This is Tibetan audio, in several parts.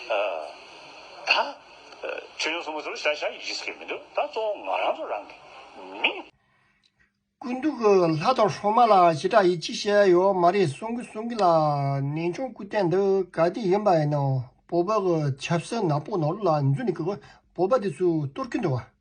ད། ཆོས་ཡོངས་སུ་མི་ཚོར་བྱ་བྱ་ཡིས་བྱེད་ཀྱི་མི་འདུག་ད་གཙོ་བོ་ང་རང་ཚོ་རང་གི་མི། ཀུན་འདུག་ལྷ་དང་ཧྲོ་མ་ལགས་ཞེ་དྲག་ཡིས་ཅི་བཤད་ཡོད་མ་རེད་གསུང་གི་གསུང་གི་ལ་ནན་ཆུང་སྐུ་བསྟན་འདི་ག་དེ་ཡིན་པ་ཡིན་ན་བོད་པའི་ཆབ་སྲིད་ནག་པོ་ནོར་ལ་འཛུལ་ནས་བོད་པ་དེ་ཚོས་གཏོར་གི་འདུག་བ།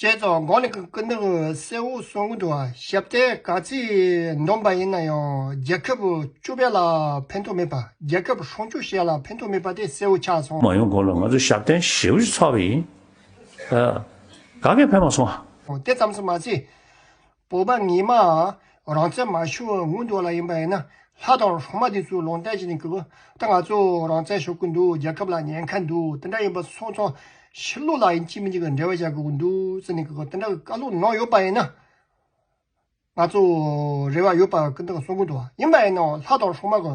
བཅས་ཚོགས་མགོ་ནས་སྐུ་མདུན་གསལ་བོ་གསུང་གི་འགྲོ་བ་ཞབས་བརྟན་ག་ཚོད་འདོམས་པ་ཡིན་ན་ཡང་རྒྱལ་ཁབ་བཅུ་བས་ལ་ཕན་ཐོག་མེད་པ་རྒྱལ་ཁབ་ཧྲོང་བཅུ་ཞེས་ལ་ཕན་ཐོག་མེད་པ་དེ་གསལ་བོ་ཆགས་སོང། མ་ཡོང་གོང་ལ་ང་ཚོ་ཞབས་བརྟན་ཞེ་བོ་ཞིག་ཚོགས་པ་ཡིན། ག་གེ་ཕན་མ་སོང། དེ་ཙམ་སུ་མ་ཚད། སྤོབས་པ་ངེས་མའང་རང་བཙན་མ་ཤོར་བའི་སྔོན་འགྲོ་ལ་ཡིན་པ་ཡིན་ན་ལྷ་དང་གྲོག་མ་དེ་ཚོས་ལོང་བསྟན་བྱས་ནས་གུས་པ་ད་ང་ཚོ་རང་བཙན་ཤོར་གི་འདུག་རྒྱལ་ཁབ་ལ་ཉེན་ཁ་འདུག་དེ་འདྲ་ཡིན་པ་སོང་ཙང་ཕྱི་ལོག་ལ་ཡིན་གཅིག་མིན་གཅིག་གི་འབྲེལ་བ་བྱ་དགོས་ཀྱི་འདུག་ཟེར་ནས་གུས་པ་དེ་འདྲ་གི་བཀའ་སློབ་གནང་ཡོད་པ་ཡིན་ན། ང་ཚོ་རེ་བ་ཡོད་པ་གི་འདི་ག་སོང་གི་འདུག་ཡིན་པ་ཡིན་ནའང་ལྷ་དང་གྲོག་མ་གི་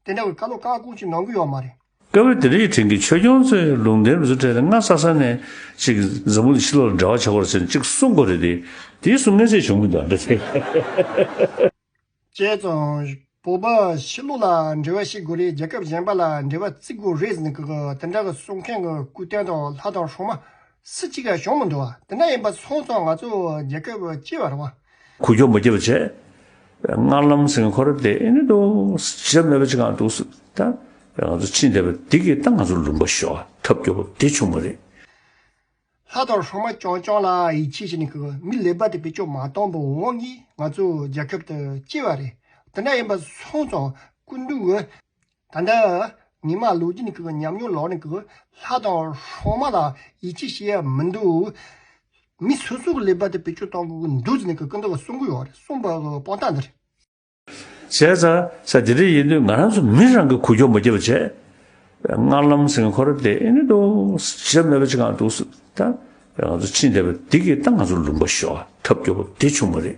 དེ་འདྲ་གི་བཀའ་སློབ་བཀའ་དགོངས་གཅིག་གནང་གི་ཡོད་མ་རེད། སྐབས་རེ་དེ་རིང་གི་ཆོས་སྐྱོང་ཚོས་ལུང་བསྟན་རུ་སུ་ཁྲེ་རེ་ལྔ་ས་ས་ནས་ཅིག་འཛམ་བུ་ལ་ཕྱི་ལོག་ལ་འབྲེལ་བ་ཆགས་པར་ཟེར་ནས་ཅིག་གསུངས་དགོས་རེད་དེ། དེའི་གསུང་ངེས་ཚད་བྱུང་མི་འདུག་ཨ་ཕྲ། བྱས་ཙང། བོད་པ་ཕྱི་ལོག་ལ་འབྲེལ་བ་ཤེས་དགོས་རེད་རྒྱལ་ཁབ་གཞན་པ་ལ་འབྲེལ་བ་བརྩི་དགོས་རེད་ཟེར་ནས་དེ་འདྲ་གསུང་མཁན་གྱི་སྐུ་རྟེན་དང་ལྷ་དང་ཧྲོ་མ་སུ་གཅིག་ཀྱང་ཤོང་མི་འགྲོ་བ་དེ་འདྲ་ཡིན་པ་སོང་ཙང་ང་ཚོ་རྒྱལ་ཁབ་སྤྱི་བར་དབང། གུ་གྱོག་མི་རྒྱབ་པ་བྱས། སྔར་ལམ་སེང་ཁོ་རེ་དེ་ནི་དུ་ཞིག་ལ་མེད་པ་ཅིག་གང་འདུག་སུ་དང་བས་ང་ཚོ་ཕྱིན་བསྡད་པ་འདི་གིས་ད་ང་ཚོ་ལུང་པ་ཞོག་ཐབས་སྐྱོ་པོ་འདི་བྱུང་བ་རེད། ལྷ་དང་ཧྲོ་མ་ཀྱང་ཀྱང་ལ་ཡིད་ཆེས་བྱེད་ནས་གི་མི་ལེ་བར་དེ་བེད་སྤྱོད་མ་བཏང་པའི་དབང་གིས་ང་ཚོ་རྒྱལ་ཁབ་དུ་སྐྱེས་བ་རེད་དེ་འདྲ་ཡིན་པ་སོང་ཙང་སྐུ་མདུན་དབོན་ད་ལྟ། ཉི་མ་ལོ་རྒྱུས་ཀྱི་ཉམས་མྱོང་ལོགས་ནས་ཀྱི་ལྷ་དང་ཧྲོ་མ་ལ་ཡིད་ཆེས་བྱེད་ཡ་མི་འདུག། མི་སོ་སོ་གི་ལས་པ་དེ་བེད་སྤྱོད་གཏོང་གི་འདུག་ཟེར་ནས་ཀྱི་ཀི་འདུག་གསུང་གི་ཡོད་རེད་གསུང་པ་གི་དཔང་རྟགས་འདི་རེད། བྱས་ཙང་ས་དེ་འདྲ་ཡིན་དུས་ང་རང་ཚོ་མི་རང་གི་གུ་གྱོག་མ་སྐྱེས་པ་བྱས། སྔར་ལམ་སེང་ཁོ་ར་དེ་ཨེ་ནི་འདུག་ཞབས་མེད་པ་ཅི་གང་འདུག་ཟེར། ད་ང་ཚོ་ཕྱིན་བསྡད་པ་འདི་གིས་ད་ང་ཚོ་ལུང་པ་ཞོག་ཐབས་སྐྱོ་པོ་དེ་བྱུང་བ་རེད།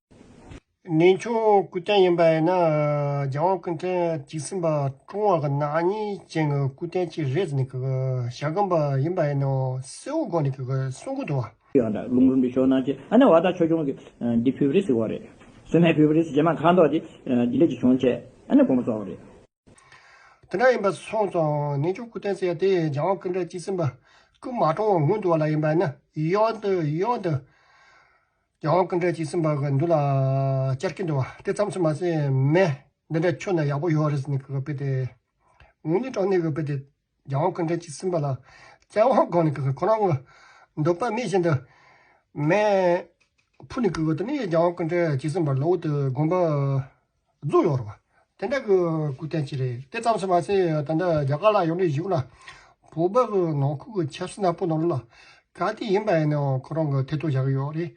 གནས་ཆུང་སྐུ་རྟེན་ཡིན་པ་ཡིན་ན་རྒྱལ་དབང་སྐུ་རྟེན་གཅིག་ཟིན་པ་ཀྲུང་ཧྭ་གི་ནག་ཉེས་ཅན་གྱི་སྐུ་རྟེན་གཅིག་རེད་ཟེར་ནས་ཞྭ་སྒམ་པ་ཡིན་པ་ཡིན་ནའོ་སྲས་བོ་དགོངས་ནས་གསུང་གི་འདུག་བ། ཡང་དག་ལུང་རིན་པོ་ཞོ་ནང་བྱེད་ཨ་ནེ་བ་ད་ཆོས་ཆུང་གིས་འདི་བྷི་བྷི་རི་སི་བ་རེད། སུ་མེད་བྷི་བྷི་རི་སི་རྗེས་མ་ཁ་མདོག་འདི་ལས་ཀྱི་བྱུང་བྱས་ཨ་ནེ་དགོངས་པ་རྫོགས་བ་རེད། དེ་འདྲ་ཡིན་པ་སོང་ཙང་གནས་ཆུང་སྐུ་རྟེན་ཟེར་ཡ་དེ་རྒྱལ་དབང་སྐུ་འདྲ་སྐྱིད་སེམས་དཔའ་སྐུ་མ་གྲོངས་བ་ངུ་འདུག་བ་ལ་ཡིན་པ་ནི་གཡོག་འདུག་གཡོག་འདུག། རྒྱལ་དབང་སྐུ་འདྲ་སྐྱིད་སེམས་དཔའ་གི་འདུག་ལ་བསྐྱར་སྐྱིད་འདུག་བ་དེ་ཙམ་ཟེར་མ་ཟད་མེད། འདི་འདྲ་ཁྱོད་ནི་ཡག་པོ་ཡོད་རེད་ཟེར་ནས་གི་གི་དཔེ་དེ། ངུ་ནི་གྲོགས་ནི་གི་གི་དཔེ་དེ། རྒྱལ་དབང་ཀུན་བྲལ་གྱིས་བསྲིངས་པ་ལ། རྩལ་དབང་སྒོང་ནི་ཀུ་ཀུ་ཁོ་ན་དངོས། འདོད་པ་མེད་བཞིན་དུ་མེད། ཕུ་ནི་ཀུ་ཀུ་དུ་ནི་རྒྱལ་དབང་ཀུན་བྲལ་གྱིས་བསྲིངས་པར་ལོག་འོད་དུ་དགོངས་པ། རྫུ་ཡོར་བ། དེ་འདྲ་ཀུ་ཀུ་བསྟན་ཅི་རེད། དེ་ཙམ་སུ་མ་ཟད་ད་ལྟ་རྒྱ་གར་ལ་ཡོང་དུས་གཞུག་ན། བོད་པ་ཚོ་ནང་ཁུལ་གྱི་ཆབ་སྲིད་ནག་པོ་ནོར་ལ། ག་དུས་ཡིན་པ་ཡིན་ནའང་ཁོ་རང་གི་ཐེ་གཏོགས་བཞག་གི་ཡོད་རེད།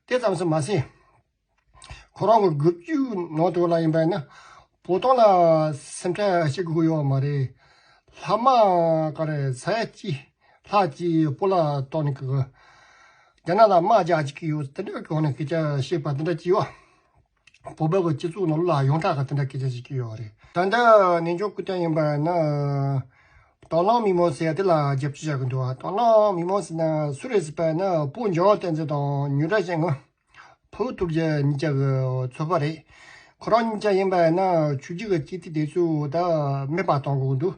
དེ་ཙམ་སུ་མ་ཟད། ཁོ་རང་གི་སྒུག་རྒྱུའི་ནང་དུ་ལ་ཡིན་པས་ན་བོ་དོང་ལ་སེམས་ཁྲལ་བྱེད་དགོས་ཡོད་མ་རེད། ལྷ་མ་ཀ་རེ་ས་ཡ་གཅིག་ལྷག་ཅིག་སྤོ་ལ་གཏོང་ནི་གི། རྒྱ་ནག་ལ་དམག་རྒྱག་བྱེད་ཀྱི་ཡོད་དེ་འདྲའི་གོང་ནས་སྐད་ཆ་བཤད་པ་དེ་འདྲ་བགྱིས་བ། བོད་པའི་སྤྱི་ཚོགས་ནང་ལ་ཡོངས་གྲགས་དེ་འདྲ་སྐད་ཆ་བཤད་ཀྱི་ཡོད་རེད། ད་ལྟ་གནས་མཆོག་སྐུ་ཐང་ཡིན་པས་ན། དྭང་བླངས་མི་མང་ཟེར་དེ་ལ་རྒྱབ་སྐྱོར་བྱ་གི་འདུག་དྭང་བླངས་མི་མང་ཟེར་ན་སུ་རེད་ཟེར་བས་ན་སྤུ་འཇོ་བསྟན་འཛིན་དང་ཉུ་སྒྲ་ཅན་ངོས། བུ་ཐུགས་རྗེ་གཉིས་ཀྱི་ཚོགས་པ་རེད། ཁོ་རང་གཉིས་ཀྱི་ཡིན་པ་ཡིན་ན་ཆོས་རྒྱུད་ཀྱི་སྐྱེས་ཐིག་དེ་ཚོ་དག་མེད་པ་གཏོང་དགོས་ཀྱི་འདུག་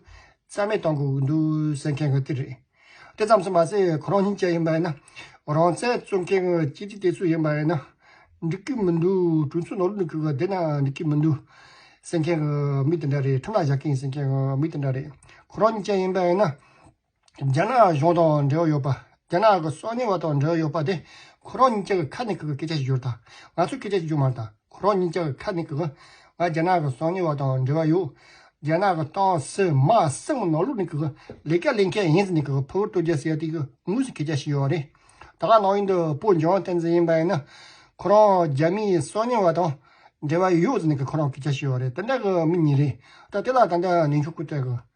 རྩ་མེད་གཏོང་དགོས་ཀྱི་འདུག་ཟེར་མཁན་གྱི་དེ་རེད། དེ་ཙམ་སོང་མ་ཟད་ཁོ་རང་གཉིས་ཀྱི་ཡིན་པ་ཡིན་ན། རང་བཙན་རྩོད་མཁན་གྱི་སྐྱེས་ཐིག་དེ་ཚོ་ཡིན་པ་ཡིན་ན། འགྲིག་གི་མི་འདུག་གྲོས་མཚོན་ནོར་ལུག་ནོར་ཁུལ་གྱི་བསྡད་ན་འགྲིག་གི་མི་འདུག་ཟེར་མཁན་གྱི་མི་དེ་འདྲ་རེད་ཁྲིམས་ལ་བཞག་མཁན་ཟེར་མཁན་གྱི་མི་དེ་འདྲ་རེད། ཁོ་རང་གཉིས་ཀྱི་ཡིན་པ་ཡིན་ན། རྒྱ་ནག་གཞུང་དང་འབྲེལ་བ་ཡོད་པ། རྒྱ་ནག་གི་སྲོག་ཉེན་བ་དང་འབྲེལ་བ་ཡོད་པ་དེ་ཁོ་རང་གཉིས་ཀྱི་ཁ་ནས་སྐད་ཆ་བཤད་རྒྱུར་དང་ང་ཚོས་སྐད་ཆ་བཤད་རྒྱུར་མ་དང་ཁོ་རང་གཉིས་ཀྱི་ཁ་ནས་ང་རྒྱ་ནག་གི་སྲོག་ཉེན་བ་དང་འབྲེལ་བ་ཡོད། རྒྱ་ནག་གི་ཏང་སྲིད་དམག་སྲིད་ནག་ལུགས་ནས་ལས་ཀ་ལས་མཁན་ཡིན་ཟེར་ནས་ཕུ་བོ་སྟོད་རྒྱལ་ཟེར་དེ་དངོས་སུ་སྐད་ཆ་བཤད་ཡོད་པ་རེད། ད་ག་ནང་ཡིན་དུ་པོ་འཇོན་བསྟན་འཛིན་ཡིན་པ་ཡིན་ན་ཁོ་རང་རྒྱ་མིའི་སྲོག་ཉེན་བ་དང་འབྲེལ་བ་ཡོད་ཟེར་ནས་ཁོ་རང་སྐད་ཆ་བཤད་ཡོད་རེད་དེ་འདྲ་གི་མི་ཉིད་རེད་ད་དེ་ལ་ད་ནས་འཇུག་སྐུལ་བསྩལ་དགོས།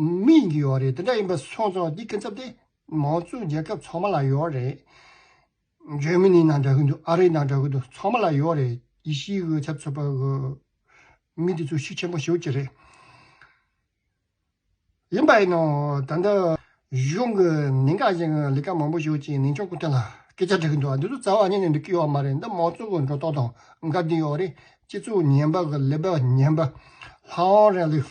མི་ཡིན་གྱི་ཡོད་རེད་དེ་འདྲ་ཡིན་པ་སོང་ཙང་འདི་སྐྱིན་ཚབ་དེ་མང་གཙོའི་རྒྱལ་ཁབ་ཚང་མ་ལ་ཡོད་རེད། འཇར་མི་ནི་ནང་འདྲ་གི་འདུག་ཨ་རི་ནང་འདྲ་གི་འདུག་ཚང་མ་ལ་ཡོད་རེད་ཡེ་ཤི་ཡའི་ཆབ་སྲིད་པ་གི་མི་དེ་ཚོ་ཤི་ཆེན་པོ་ཞིག་གྱི་རེད། ཡིན་པ་ཡིན་ནོ་ད་ལྟ་གཞུང་གི་ནིང་ག་ཅན་གི་ལས་ཀ་མང་པོ་ཞིག་ཅིག་ནིང་ཕྱོགས་ཀུན་ཐད་ལ་སྐད་ཆ་འདྲི་གི་འདུག་འདི་ཚོ་རྩ་བ་ཉིད་ནས་འདྲི་གི་ཡོད་མ་རེད་འདི་མང་གཙོ་གི་འགྲོ་ལྡོག་དང་འགའ་འདི་ཡོད་རེད་སྤྱི་ཚོགས་ཉན་པ་གི་ལས་པ་ཉན་པ་ལྷག་ཨང་རེད་ལུས།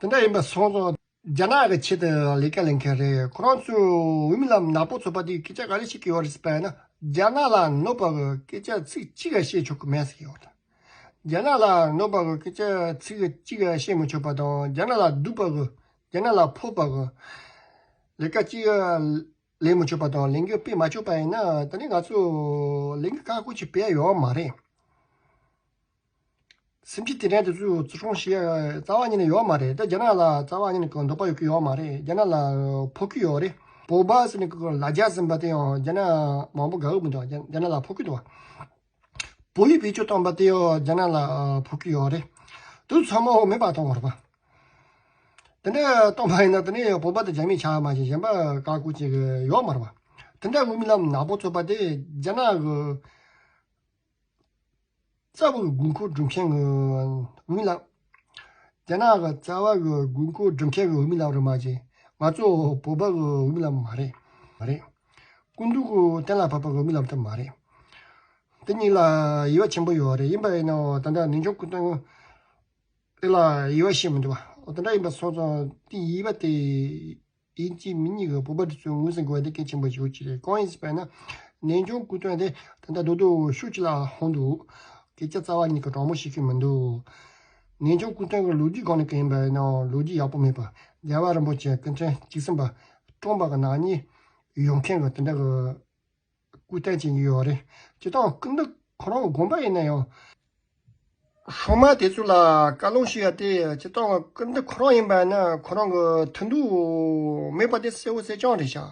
དེ་འདྲ་ཡིན་པ་སོང་ཙང་རྒྱ་ནག་གི་ཆེད་དུ་ལས་ཀ་ལས་མཁན་རེད་ཁོ་རང་ཚོས་འོས་མི་ལམ་ནག་པོ་ཚོགས་པ་དེའི་སྐད་ཆ་ག་རེ་ཞིག་གི་ཡོད་རེད་ཟེར་པ་ཡིན་ན་རྒྱ་ནག་ལ་གནོད་པ་གི་སྐད་ཆ་ཚིག་གཅིག་ག་བཤད་ཆོག་གི་མེད་ཟེར་གྱི་ཡོད་རེད། རྒྱ་ནག་ལ་གནོད་པ་གི་སྐད་ཆ་ཚིག་གཅིག་ག་བཤད་མི་ཆོག་པ་དང་རྒྱ་ནག་ལ་སྡུག་པ་གི་རྒྱ་ནག་ལ་ཕོག་པ་གི་ལས་ཀ་གཅིག་ག་ལས་མི་ཆོག་པ་དང་ལས་འགུལ་སྤེལ་མ་ཆོག་པ་ཡིན་ན་ད་ནི་ང་ཚོས་ལས་འགུལ་ཁག་ཁུར་ཅིག་སྤེལ་ཡ་ཡོད་མ་རེད། སེམས་ཀྱི་དེ་དྲན་དེ་ཚོའི་བརྩི་སྲུང་བྱེད་རྩ་བ་ཉིད་ནས་ཡོད་མ་རེད་དེ་རྒྱ་ནག་ལ་རྩ་བ་ཉིད་ནས་འདོགས་པ་ཡོད་ཀྱི་ཡོད་མ་རེད་རྒྱ་ནག་ལ་ཕོག་གི་ཡོད་རེད་བོད་པ་ཟེར་ནས་ལ་རྒྱ་ཟིན་པ་དེ་ཡང་རྒྱ་ནག་མང་པོ་དགའ་གི་མི་འདུག་རྒྱ་ནག་ལ་ཕོག་གི་འདུག་བོད་ཡིག་བེད་སྤྱོད་བཏང་པ་དེ་ཡང་རྒྱ་ནག་ལ་ཕོག་གི་ཡོད་རེད་དུ་ཚང་མ་འོག་མིན་པ་དང་རོགས་པ་དེ་འདྲ་གཏོང་པ་ཡིན་ན་དེ་ནས་བོད་པ་དང་རྒྱ་མི་ཆ་མ་ཞེས་གཞན་པ་བཀག་འགོག་བྱེད་ཀྱི་ཡོད་མ་རེད་པ་དེ་འདྲ་དབུ་མི་ལམ་ནག་པོ་ཚོགས་པ་དེ་རྒྱ་ནག་གི། རྩ་བའི་དགོས་མཁོ་སྒྲུབ་མཁན་གྱི་འོས་མི་ལགས། རྒྱ་ནག་གི་རྩ་བ་གི་དགོས་མཁོ་སྒྲུབ་མཁན་གྱི་འོས་མི་ལགས་རེད་མ་གཅིག་ང་ཚོ་བོད་པ་གི་འོས་མི་ལགས་མ་རེད། སྐུ་མདུན་གྱི་གཏན་ལ་ཕབ་པ་འོས་མི་ལགས་ད་མ་རེད། འདི་གཉིས་ལ་དབྱེ་བ་ཆེན་པོ་ཡོད་རེད་ཡིན་པ་ཡིན་ནའོ་ད་ལྟ་ནིང་ཆུང་སྐུ་མདུན་དེ་ལ་དབྱེ་བ་ཤེས་མི་འདུག་བ་འོ་དེ་འདྲ་ཡིན་པ་སོང་ཙང་དེ་དབྱེ་བ་དེ། དེའི་རྗེས་མི་གཉིས་ཀྱི་སྤོབས་པ་དེ་ཚོས་ངོས་ཟིན་དགོས་པ་དེ་གལ་ཆེན་པོ་ཞིག་རེད་གང་ཡིན་ཟེར་བས་ན། ནན་ཅུང་སྐུ་དོན་དེ་ད་ལྟ་རྡོག་རྡོག་འུར་ཤུགས་ཀྱིས་ལ་ལྷོང་འདུག་སྐད་ཆ་རྩ་བ་ཉིད་ཀྱི་དྲང་མོ་བཤད་མཁན་མི་འདུག། ནན་ཅུང་སྐུ་དོན་གྱི་ལོ་རྒྱུས་སྒང་ནས་གང་ཡིན་པ་ཡིན་ནའང་ལོ་རྒྱུས་ཡག་པོ་མེད་པར་རྒྱལ་བ་རིན་པོ་ཆེ་སྐུ་མཁྱེན་གཅིག་སེམས་པ་སྟོང་པ་གྱི་ནག་ཉེས་ཡོད་མཁན་གྱི་དེ་འདྲ་གི། སྐུ་བསྟན་བྱེད་ཀྱི་ཡོད་རེད། ཅི་སྟེ་སྐུ་འདི་ཁོ་རང་དགོངས་པ་ཡིན་ན་ཡང། སྲུང་མ་དེ་ཚོ་ལ་བཀའ་ལུང་ཞུ་ཡ་སྟེ་ཅི་སྟེ་སྐུ་འདི་ཁོ་རང་ཡིན་པ་ནི་ཁོ་རང་གི་མཐུན་འདུག་མེད་པ་དེ་གསལ་བོ་གསལ་རྐྱང་རེད་ཤག།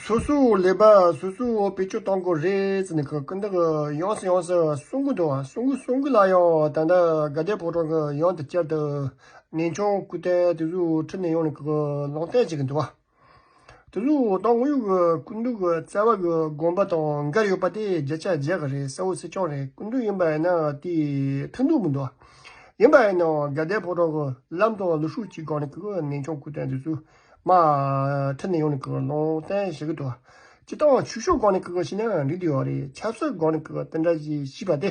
སོ་སོའི་ལས་པ་སོ་སོས་བེད་སྤྱོད་གཏང་དགོས་རེད་ཟེར་ནས་སྐུ་འདི་གི་ཡང་ཟེར་ཡང་ཟེར་གསུང་གི་འདུག་གསུང་གི་གསུང་གི་ལ་ཡང་ད་ལྟ་དགའ་ལྡན་ཕོ་བྲང་གི་ཡང་དེ་བསྐྱར་དུ་ནན་ཆུང་སྐུ་བསྟན་དེ་ཚོའི་ཁྲི་ནས་ཡོང་ནས་ལུང་བསྟན་བྱེད་ཀྱི་འདུག་ག། དེ་ཚོ་འོ་ཐང་དངོས་ཡོད་ཀྱི་སྐུ་མདུན་གྱི་བསྩལ་བ་གྱི་དགོངས་པ་དང་འགལ་ཡོད་པ་དེ་བརྒྱ་ཆ་བརྒྱ་ག་རེད་གསལ་བོ་སྲིད་སྐྱོང་རེད་སྐུ་མདུན་ཡིན་པ་ཡིན་ན་དེ་མཐུན་འདུག་མི་འདུག་ཡིན་པ་ཡིན་ན་དགའ་ལྡན་ཕོ་བྲང་གི་ལམ་དང་ལུས་ཤུགས་གཅིག་སྒང་ནས་ཀྱི་ནན་ཆུང་སྐུ་རྟེན་དེ་ཚོའི་མ་མཐུན་ནས་ཡོང་ནས་ཀྱི་ལུང་བསྟན་བྱེད་ཀྱི་འདུག་སྤྱི་བཏང་ཆོས་ཕྱོགས་སྒང་ནས་ཀྱི་བྱས་ན་འགྲིག་འདུག་ཡོད་རེད་ཆབ་སྲིད་སྒང་ནས་ཀྱི་དེ་འདྲ་ཞིག་བྱས་པ་དེ་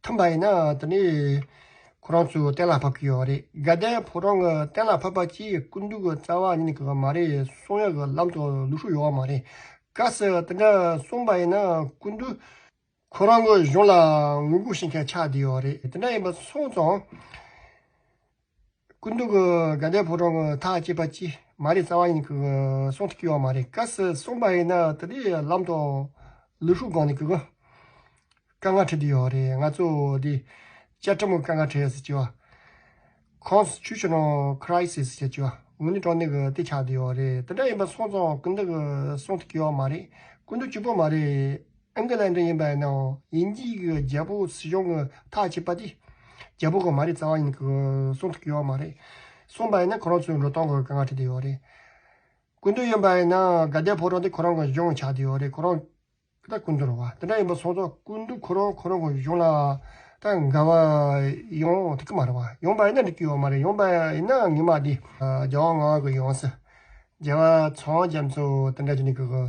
མཐུན་པ་ཡིན་ན་དེ་ནས་ཁོ་རང་ཚོ་གཏན་ལ་ཕབ་ཀྱི་ཡོད་རེད་དགའ་ལྡན་ཕོ་བྲང་གི་གཏན་ལ་ཕབ་པ་གྱིས་སྐུ་མདུན་གྱི་རྩ་བ་ཉིད་ཀྱི་མ་རེད་གསུང་ཡག་གི་ལམ་དུ་ལུས་ཤུགས་ཡོད་བ་མ་རེད་དཀའ་སེ་དེ་འདྲ་གསུང་པ་ཡིན་ན་སྐུ་མདུན་ཁོ་རང་གི་གཞུང་ལ་ངོས་ལྐུགས་ཤིང་ཁྱད་ཆགས་དེ་ཡོད་རེད་དེ་འདྲ་ཡིན་པ་སོང་ཙང། སྐུ་མདོག་གི་དགའ་ལྡན་ཕོ་བྲང་གི་མཐའ་བསྐྱེད་པ་ཅི་མ་རེད་རྩ་བ་ཡིན་གི་གསུང་དུ་སྐྱེ་བ་མ་རེད་ག་ཟེར་གསུངས་པ་ཡིན་ན་དེ་དེ་ལམ་དང། ལུས་ཤུགས་སྒང་ནས་གི་གི། དཀའ་ངལ་འཕྲད་དུ་ཡོད་རེད་ང་ཚོ་དེ། བཅའ་ཁྲིམས་དཀའ་ངལ་འཕྲད་ཟེར་གྱི། Constitutional Crisis ཟེར་གྱི་འུ་ནི་དྲང་བདེན་གི་དེ་ཆགས་དུ་ཡོད་རེད་དེ་འདྲ་ཡིན་པ་སོང་ཙང་སྐུ་མདོག་གི་གསུང་དུ་སྐྱེ་བ་མ་རེད་སྐུ་མདོག་སྐྱིད་པོ་མ་རེད། ཨེན་ཀི་ལན་ཏོན་ཡིན་པ་ཡིན་ནའང་ཡིན་གྱི་ཡིན་གྱི་རྒྱལ་པོ་སྲིད་སྐྱོང་གི་ཐག་བཅད་པ་དེ་རྒྱལ་པོ་གང་མ་རེད་རྩ་བ་ཡིན་གྱི་གསུང་ཐུབ་ཀྱི་ཡོད་མ་རེད། གསུངས་པ་ཡིན་ན་ཁོ་རང་ཚོའི་འགྲོ་སྟངས་གི་དཀའ་ངལ་འཕྲད་དུ་ཡོད་རེད། ཀུན་འདུས་ཡིན་པ་ཡིན་ན་དགའ་ལྡན་ཕོ་བྲང་དེ་ཁོ་རང་གི་གཞུང་ཆགས་དུ་ཡོད་རེད་ཁོ་རང་ད་ཀུན་འདུས་རུ་བ་དེ་འདྲ་ཡིན་པ་སོང་ཙང་ཀུན་འདུས་ཁོ་རང་ཁོ་རང་གི་གཞུང་ལ་ད་དགའ་བ་ཡོང་ཐུབ་ཀྱི་མ་རེད་བ་ཡོང་པ་ཡིན་ན་འགྲིག་གི་ཡོད་མ་རེད་ཡོང་པ་ཡིན་ན་ངེད་མ་དེ། རྒྱལ་བ་ངག་གི་ཡོངས་སུ་རྒྱལ་བ་ཚངས་རྒྱམ་ཚོ་དེ་འདྲ་བྱས་ནས་གི།